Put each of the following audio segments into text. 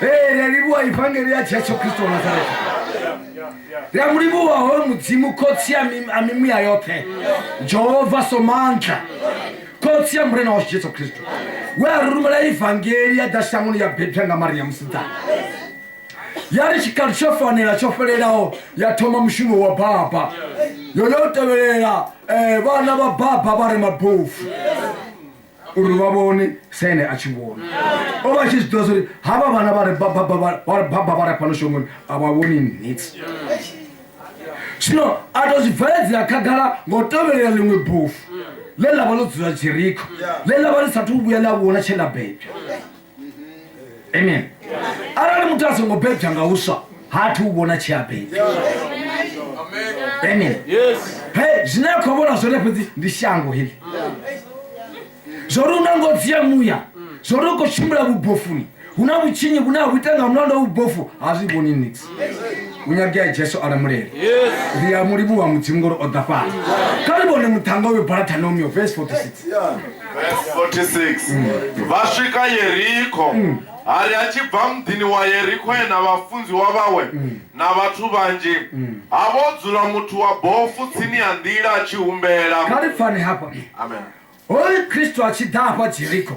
Eh, ria livhuwa ivangeli ya jesu kristo wa nazareta ri a mu livhuwa hoyo mudzimu khotsi ya mi- a mimuya yoṱhe jehova somandla khotsi ya murena washu jesu kristo we a ri rumela ivangeli ya ḓa shangoni ya bebwa nga maria musidzana ya ri tshikalo tsho fanela tsho fhelelaho ya thoma mushumo wa baba yo yo tevhelela eh, vhana vha baba vha re mabofu uri vha vhone sa ene a tshi vhona o vha a tshi zwi ḓivha zwauri havha vhana vha re baba vha re fhano shongoni a vha vhoni nits zwino a tou zwi bveledzela khagala nga u tovhelela ḽiṅwe bofu ḽe ḽa vha ḽo dzula jerikho ḽe ḽa vha ḽi sathu vhuya ḽa vhona tshe ḽa bebwa amen arali muthu a songo bebja nga uswa ha athu u vhona tshi a bebja amen he zwine a khou vhona zwone fhedzi ndi shango heḽi zwo ri una ngo dzia muya zwo ri u khou tshimbila vhubofuni hu na vhutshinyi vhune ha vhu ita nga mulanda wa vhubofu ha zwi vhoni nix munyagi ya jesu a lamulela ri a mulimu wa mudzimu ngori o ḓa fhano kha ri vhone muṱhanga uyo baratanumio vese 46 vha swika yerikho mm. hari a tshi bva muḓini wa yerikho ena vhafunziwa vhawe mm. na vhathu vhanzhi mm. ha vho dzula muthu wa bofu tsini ya nḓila a tshi humbela kha ri pfani hafha hoyu kristu a tshi ḓa hafha jerikho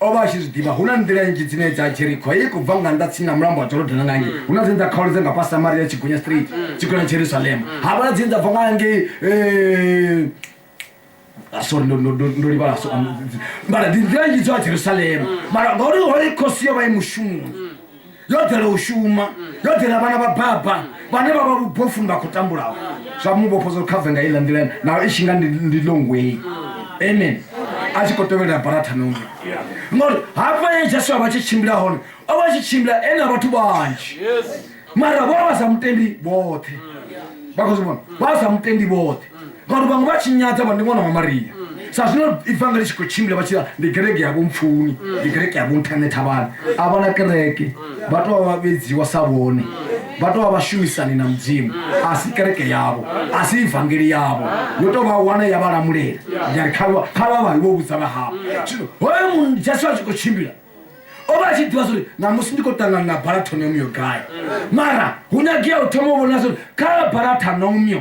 o vha a tshi zwi ḓivha hu na nḓila nnzhi dzine dza jerikho hei khou bva nga nnḓa tsini na mulambo wa jorodana nga ngei hu na dzine dza khaolo dza nga fha samaria tshigunya street tshigunya jerusalema ha vha na dzine dza bva nga ngei eh, ah, sorry ndo- ndo- ndo- ndo livhala so- um, mara ndi nḓila nnzhi dzo ya jerusalema mara ngauri hoi khosi yo vha i mushumoni yo dela u shuma yo dela vhana vha baba vhane vha vha vhubofuni vha khou tambulaho zwa mu vhofha zwo khave nga iḽa nḓila naho i tshi nga ndi ndi long way amen a tshi khou tevhelela barathanoni ngori hafha ye jesu a vha tshi tshimbila hone o vha tshi tshimbila e na vhathu vhanzhi mara vho vha sa mutendi vhoṱhe vha khou zwi vhona vha sa mutendi vhoṱhe vanhu vamwe vha tshi nyadza vha ndi ṅwana wa maria sa zwino ibvanga ḽi tshi khou tshimbila vha tshia ndi kereke yavho mpfuni ndi kereke yavho nṱhane thavhani a vha na kereke vha tou vha vha vhedziwa sa vhone vha tou vha vhashumisani na mudzimu a si kereke yavho a si ivangeli yavho yo tou vha wana ya vha lamulela yari kha vha kha vha vha vho vhudza vha havho zwino hoyo munhu jesu a tshi khou tshimbila o vha a tshi ḓivha zwauri ṋamusi ndi khou ṱangana na barathonemiyo gai mara hu nyagea u thoma u vhona zwauri kha barathanomiyo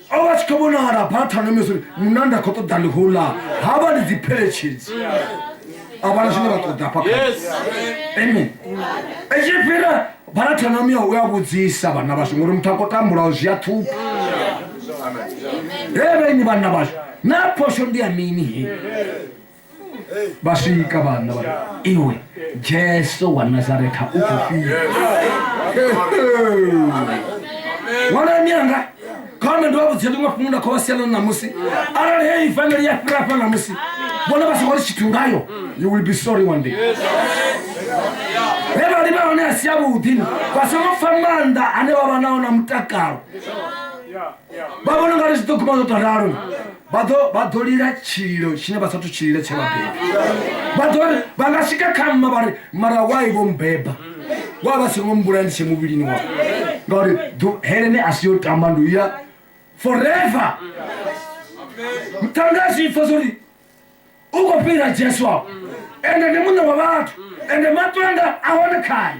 ovha tshi kho vhonala phathanomeso mune nda kho ṱoḓa ndi khou ḽa ha vha ndi dzi pheletshedzi a vhana zwine vha ṱoḓa fha amen etshi fhira phathanomi ya u ya vhudzisa vhana vhashu ngori muthu a kho tambulaho zwi a ṱhupha he vhenyi vhanna vhashu na phosho ndi ya mini he vha swika vhanna vha iwe jesu wa nazaretha u khou fhira ṅwalani anga khone ndi vha vhudze ḽiṅwe fhungu nda khou vha siela ṋamusi arali heyi family ya fhira fha ṋamusi vhone vha songo ri tshithu ngayo you will be sorry one day vhevhali vha hone a si yavhuḓi vha songo pfa maanḓa ane vha vha nao na mutakalo vha vhona ngari zwi ḓo guma zwo to ralo vha ḓo lila tshililo tshine vha sathu tshilila tshe vhabebi vha nga swika kha mma vha ri mara wai vho mbeba wa vha songo mbula ndi tshe muvhilini wa ngauri helene a si yo tamba ndi uya forever mutanga a zwi pfa zwori u khou fhira jesu apo ende ndi muṋe wa vhathu ende maṱwanda a hone khaye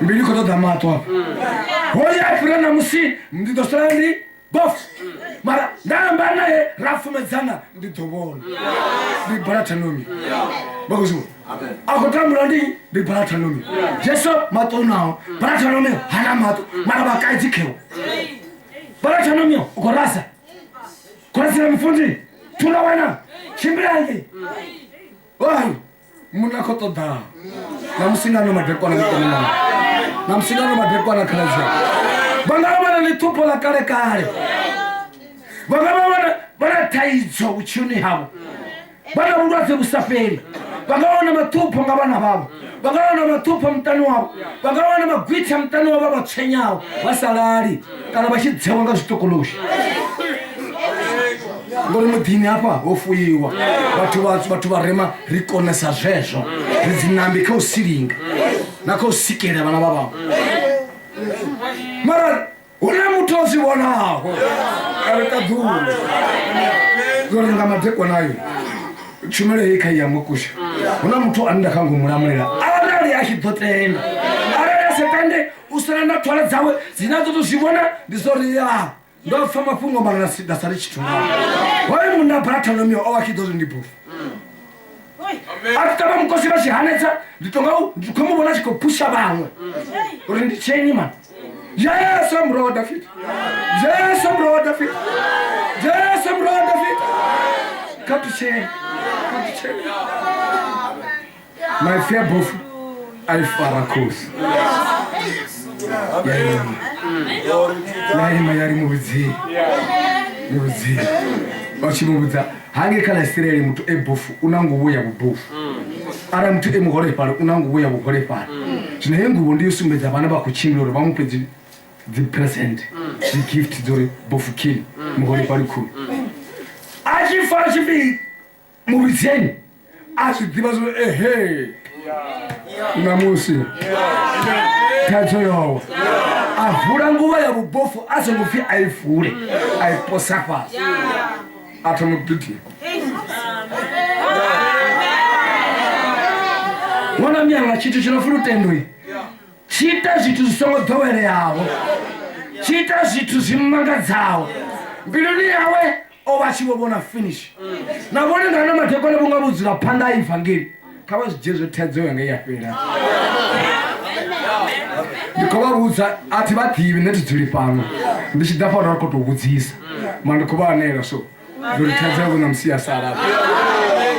mbi ndi khou ṱoḓa maṱo hafha hoya a fhira namusi ndi ḓo sala ndi bof mara nda amba naye ra fumedzana ndi ḓo vhona ndi balathanomi vhakuziwa a khou tambula ndi ndi balathanomi jesu maṱo unaho balathanomi hana maṱo mara vhakaidzi khewo balathanomi u khou rasa khorasira mufundini thula wena tshimbilange oi munna kho ṱoḓaho na musingano madekwana mukomana na musingano madekwana khaladzia vha nga vha na ḽiṱhupho ḽa kale kale vha nga vha vha na thaidzo vhutshiloni havho vha na vhulwadze vhu sa fheli vha nga wana maṱhupho nga vhana vhavho vha nga wana maṱhupho muṱani wavho vha nga wana magwitha muṱani wavho vha vha tshenyaho vha sa lali kana vha tshi dzewa nga zwitokoloshi ngori muḓini hafha ho fuyiwa vhathu vhathu vhathu vharema ri konesa zwezwo ri dzinambi kha u silinga na kha u sikela vhana vha vhaṅwe mara hu na muthu o zwi vhonaho a ri ṱaḓulu zwo ri nga madekonayo tshumelo hei kha i ya mukusha hu na muthu a nda kha ngomulamulela arali a tshi ḓo tenda arali a sa tende u sala na ṱhola dzawe dzine a ḓo to zwi vhona ndi zwo ri ya ndo pfa mafhungo mara na si- nda sali tshithu ngao hoyo munna baratholomiyo o vha tshi ḓo zwi ndi bofu a ti tava mukosi va xihanetsa ndi tonga u ndi khomi vona xi ko phuxa van'we u ri ndi ceni mani yesu murho wa dafita yesu murho wa dafita yesu murho wa dafita ka tuceni ka tuceni maipfi a bofu a ifara khosi ya ima ya ima ya ri muvhudzini muvhudzini vha tshi muvhudza hange kha ḽa isiraeli muthu e bofu u na nguvho ya vhubofu arali muthu e muholefhali u na nguvho ya vhuholefhali zwino heyi nguvho ndi yo sumbedza vhane vha khou tshimbila uri vha mu fhe dzi- dzi present dzi gift dza uri bofu khini muholefhali khulu a tshi fara tshipidi muvhidzeni a zwi ḓivha zwo ehe ṋamusi khetho yowa a vula nguvha ya vhubofu a songo pfhi a i vule a i posa fhasi a thoma u gidima vhona miyanga tshithu tshi no pfi lutendoi tshi ita zwithu zwi songo ḓoweleaho tshi ita zwithu zwi mmangadzaho mbiluni yawe o vha a tshi vho vhona finish na vhone nga na madekwana vhunga vho dzula phanḓa a ivangeli kha vha zwi dzhie zwo thaidzo yanga ya fhela ndi khou vha vhudza a thi vha ḓivhi nṋe thi dzuli fhano ndi tshi ḓa fhano ri khou tou vhudzisa ma ndi khou vha anela so uri thaidzo yavho na musi ya sala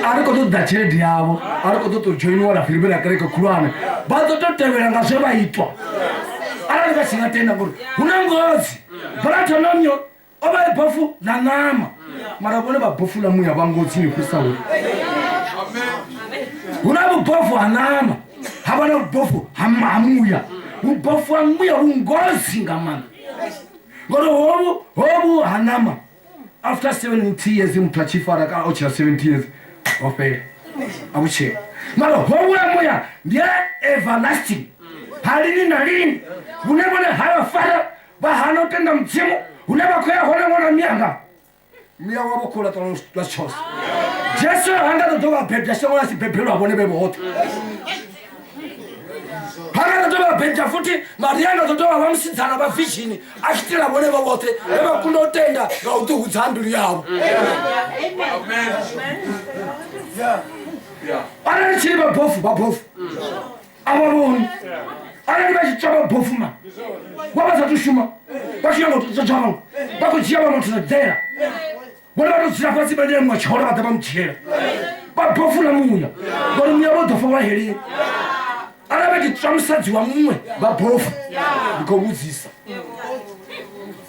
a ri khou ḓo ḓa tshelede yavho a ri khou ḓo tou dzhoiniwa na firibe na kereke khulwane vha ḓo tou tevhela nga zwe vha itwa arali vha si nga tenda ngori hu na ngozi vha thoma myo o vha e bofu ḽa ṋama mara vhone vha bofu ḽa muya vha ngo tsini fhirisa hu hu na vhubofu ha ṋama ha vha na vhubofu ha ma- ha muya vhubofu ha muya vhu ngozi nga maanḓa ngori hovhu hovhu ha ṋama after 70 years muthu a tshi fara kana o tshila 70 years ho fhela a vhutshela mara hovhu ha muya ndi a everlasting ha lini na lini vhune vhone ha vha fara vha hana u tenda mudzimu hune vha khou ya hone ṅwana mianga muya wavho khou laṱa lwa tshoso jesu ha nga ṱoḓo vha bebya shango ḽa si bebelwa vhone vhe vhoṱhe ha nga ṱoḓo vha bebya futhi maria nga ṱoḓo vha vha musidzana vha vishini a tshi tila vhone vha vhoṱhe vhe vha kunda u tenda nga u ḓihudza ha mbilu yavho arali tshili vhabofu vhabofu avavoni arali vha tshitshavha bofuma vha vha sathu shuma vha tshi nyanga u thusa tshavha vha khou dzhia vha muthu na dzela vhone vha to dzula fhasi vha nyamwa tshola vha ḓa vha mu dzhiela vha bofula muya ngori muya vho ḓo fa wa heleni arali vha tshi tswa musadzi wa muṅwe vha bofu ndi khou vhudzisa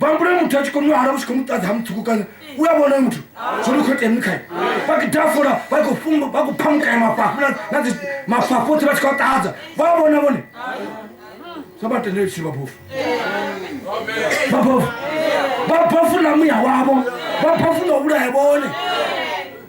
bambule muthu a tshi kho mu hala u tshi kho mu ṱadza ha muṱhukukanya u a vhona muthu zwo ni khou itea mini khae vha kho dafula vha khou fumba vha khou phamukanya mafhafhu na- na dzi mafhafhu oṱhe vha tshi khou a ṱadza vha a vhona vhone sa vha tendele tshiri vhabofu vhabofu vhabofu na muya wavho vhabofu na u vhulaya vhone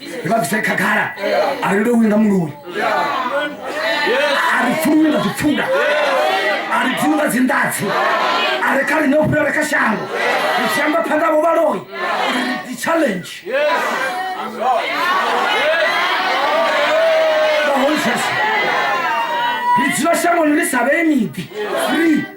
vha bvise khagala a ri lowi nga muloi a ri pfuluwi nga zwipfula a ri dzini nga dzinḓadzi a ri kha ḽine u fhirela kha shango ri tshi amba phanḓa vho vhaloi ri dzi challenge the whole church ri dzula shangoni ri sa vhee miḓi free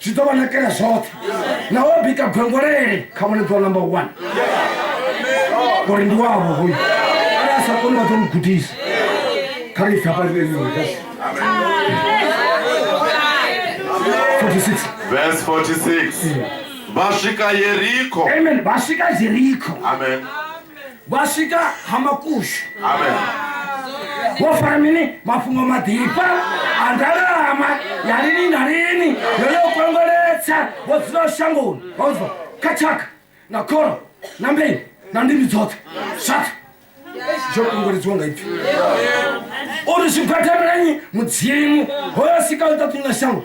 zwi ḓo vha nakela zwoṱhe na wo bika gwengolele kha vhone ḓo number one ngori ndi wavho hoyu ara a sa koni vha ḓo mu gudisa kha ri pfha paleeasi Verse 46. Vha swika Yeriko. Amen. Vha swika Yeriko. Amen. vha swika ha makushu vho fara mini mafhungo maḓifha a ndalama ya lini na lini yo yo kongoletsa vho dzula shangoni vhauzwa kha tshaka na khoro na mbeu na ndimi dzoṱhe zwaṱhe zwo kongoledziwa nga ipfi uri zwi khwathamilanyi mudzimu hoyo sika u ṱaṱunya shango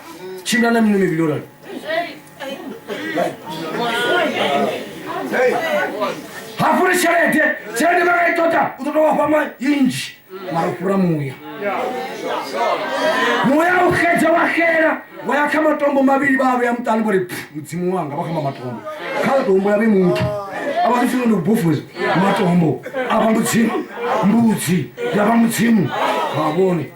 Tshimbila na miṅwe mivhili yo rali hafhu ri tshelede tshelede vha nga i ṱoḓa u ṱoḓa wa fhama inzhi mara u fhura muya muya u xedza wa xela wa ya kha matombo mavhili vha vheya muṱani vhori mudzimu wanga vha khamba matombo kha matombo ya vhe muthu a vha ḓifuna ndi bufuza matombo a vha mudzimu mbudzi ya vha mudzimu ha vhone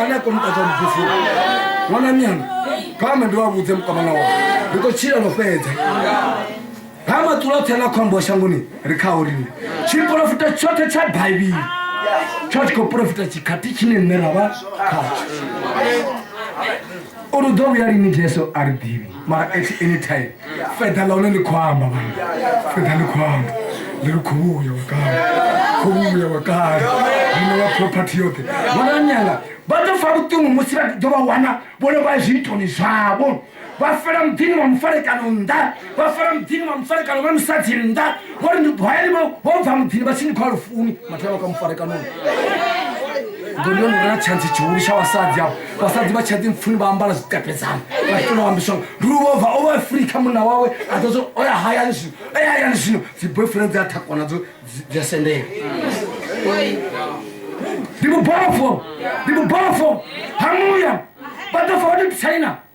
ane a kona u ṱatsha ludzifu ṅwana mianga kha ame ndi wa vhudze mukamana wawe ndi khou tshila lwo fhedza ha maṱula oṱhe na khombo wa shangoni ri khao rine tshiporofita tshoṱhe tsha baibili tsha tshi khou porofita tshikhathi tshine nṋe ra vha khatsho uri u ḓo vhuya lini jesu a ri ḓivhi mara at any time feda ḽa hone ḽi khou amba vhana feda ḽi khou amba ḽi ri khou vhuya wakale khou vhuya wakale zwino vha property yoṱhe vhonanyala vha ḓo fa vhuṱungu musi vha ḓo vha wana vhone vha zwiitoni zwavho vha fela muḓini wa mufarekano nnḓa vha fela muḓini wa mufarekano vha musadzi nnḓa ngori ndi hayani vho bva muḓini vha tshi ni khou a lufuni mathela vha kha mufarekanoni ngori yo nona tshantsi tshihulu tsha vhasadzi avho vhasadzi vha tshadi mpfuni vha ambala zwikapedzana vhafuna wambiswa ndiluvhova o vha free kha munna wawe a ḓo zwo oya hayani zwino oya hayani zwino dzi boyfriend dzi a thakwa nadzo dzi a sendela ndi vhubofho ndi vhubofho hamuya vha ḓo fa vha ḓo ḓitsaina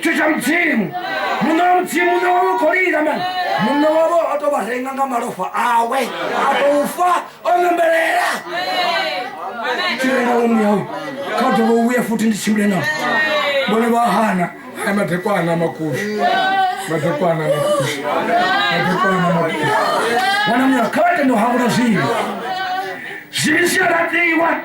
tshithu tsha mudzimu muṋe wa mudzimu muṋe wa mugolida mani muṋe wavho o to vha renga nga malofha awe a tou fa o ṋembelela tshirengawo muyau kha dovha u vhuya futhi ndi tshimbile nao vhone vha hana aya madekwana a makushu madekwana a makushu madekwana a makushu vhona muya kha vha tende u hangula zwivhi zwivhi zwi a laṱiwa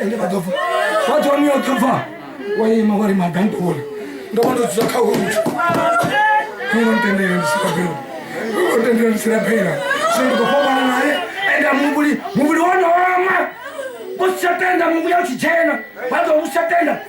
ende vha ḓo fa vhathu vha miyoṱhe pfa wa ima wa ri magandula ndo vha ndo dzula kha houtu ngo ntendele ndisirabela ngo ntendele ndisirabela zwino ndi khou fhambana naye ende muvhuli muvhuli wo no oma u si tsha tenda muvhuya u tshi dzhena vha ḓo u si tsha tenda